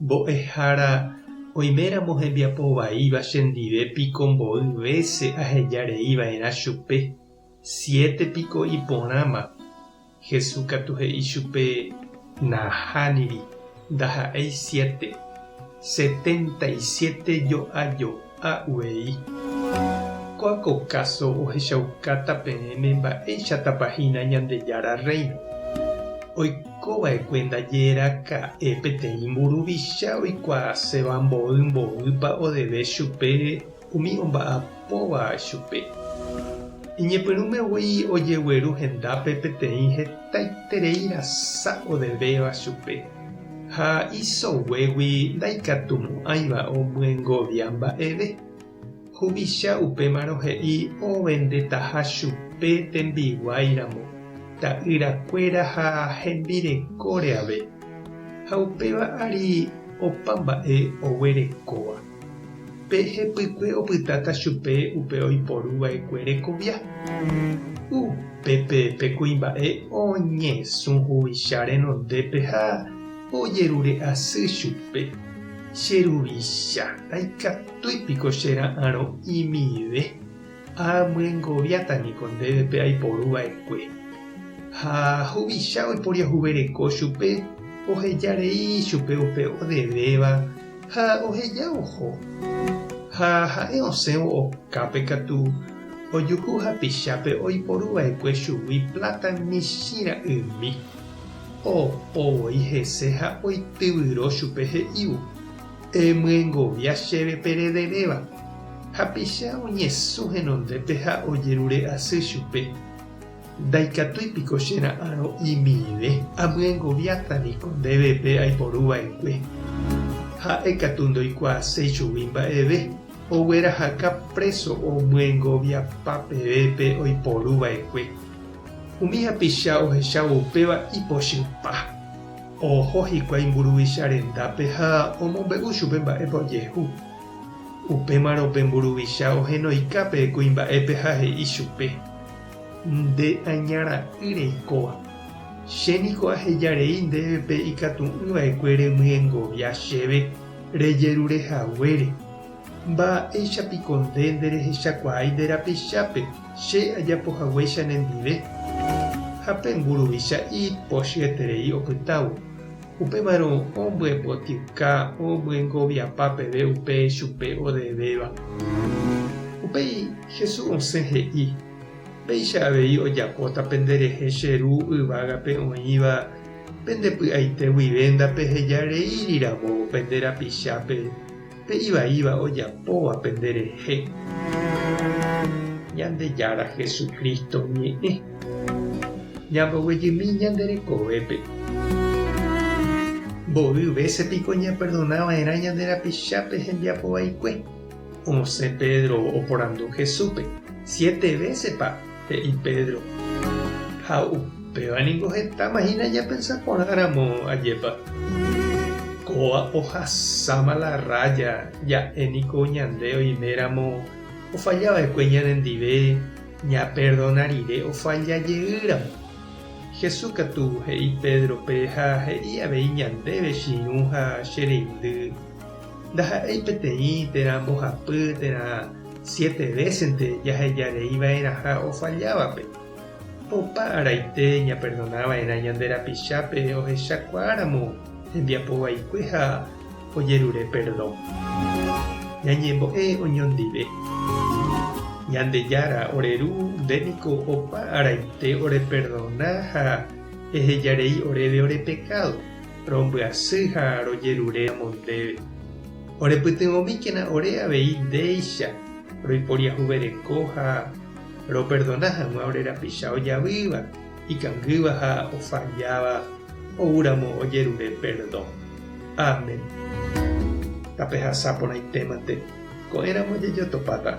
Mbo'ehára oiméramo hembiapo vaíva chendive piko mboy vése aheja rei va'erã chupe, siete piko iporãma. Jesús katu he'i chupe, Nahániri, ndaha'éi siete, setenta y siete jo'ajo. ha uei. Kóa ko káso ohechaukáta peẽme mba'éichatapa hína Ñandejára Rréino. Oiko va'ekue ndaje raka'e peteĩ mburuvicha oikuaaséva mboy mboýpa odeve chupe umi omba'apóva chupe. Iñepyrũme voi ojegueru hendápe peteĩ hetaiterei rasa odevéva chupe. Ha isoguégui ndaikatumo'ãiva omyengovia mba'eve. Huvicha upémarõ he'i ovendetaha chupe tembiguái ramo, ta'ýra kuéra ha hembirekóre ave. Ha upéva ári opa mba'e oguerekóva. Pe hepykue opytáta chupe upe oiporu vaekue rekovia. Upépe pe kuimba'e oñesũ huvicha renondépe ha ojerure asy chupe, Che ruvicha, ndaikatúi piko che ra'arõ imive? Amyengoviáta niko ndéve pe aiporu va'ekue. Ha huvicha oiporiahuvereko chupe oheja rei chupe upe odevéva ha oheja oho. Ha ha'e osẽvo okápe katu, ojuhu hapichápe oiporu va'ekue chugui pláta michĩ ra'ymi. Opo voi hese ha oityvyro chupe he'ívo, Emyengovia chéve perederéva. Hapicha oñesũ henondépe ha ojerure asy chupe. Ndaikatúi piko che ra'ãrõ imive? Amyengoviáta niko ndéve pe aiporu va'ekue. Ha'e katu ndoikuaaséi chugui mba'eve. Oguerahaka préso omyengoviapa peve pe oiporu va'ekue. Umi hapicha ohechávo upéva ipochypa. Oho hikuái mburuvicha rendápe ha omombe'u chupe mba'épa ojehu. Upémarõ pe mburuvicha ohenoika pe kuimba'épe ha he'i chupe, Nde aña ra'y reikóva, che niko aheja rei ndéve pe ikatu'ỹ vaekue remyengovia chéve rejerure haguére. Mba'éicha piko nde nderehechakuaái nde rapichápe? Che ajapo haguéicha nendive, ha pe mburuvicha ipochyeterei opytávo, upémarõ ombyepotyka omyengoviapa peve upe chupe odevéva. Upéi Jesús osẽ he'i, Péicha avei ojapóta pende rehe che Ru yvágape oĩva pende py'aite guive ndapeheja rei riramo pende rapichápe, Pe ivaíva ojapóva pende rehe Ñandejára Jesucristo ñe'ẽ, ñambovyjymi ñande rekovépe. Mboy vése piko ñaperdona va'erã ñande rapichápe hembiapo vaikue? Osẽ Pedro oporandu Jesúspe, Siete vésepa? He'i Pedro, Ha upéva ningo hetáma hína japensa porãramo, ajépa? Kóva ohasáma la rája, ja'e niko ñande oiméramo ofalla va'ekue ñanendive ñaperdona rire ofalla jeýramo. Jesús katu he'i Pédrope ha he'i avei ñandéve chirũ ha che reindy. Ndaha'éi peteĩ térã mbohapy térã siete vésente jahejareiva'erãha ofallávape. Opa araite ñaperdonava'erã ñande rapichápe ohechakuaáramo hembiapo vaikue ha ojerure perdón. Ñañembo'e oñondive. Ñandejára ore Ru nde niko opa araite oreperdona ha ehejarei oréve ore pekádo. Rombyasy ha rojerure amo ndéve. Orepytyvõmíkena ore avei ndéicha roiporiahuvereko ha roperdona hag̃ua ore rapicha ojavýva, ikangýva ha ofalláva oúramo ojerure perdõ. Amén. Tapehasa porãitémante, ko'ẽramo jajotopáta.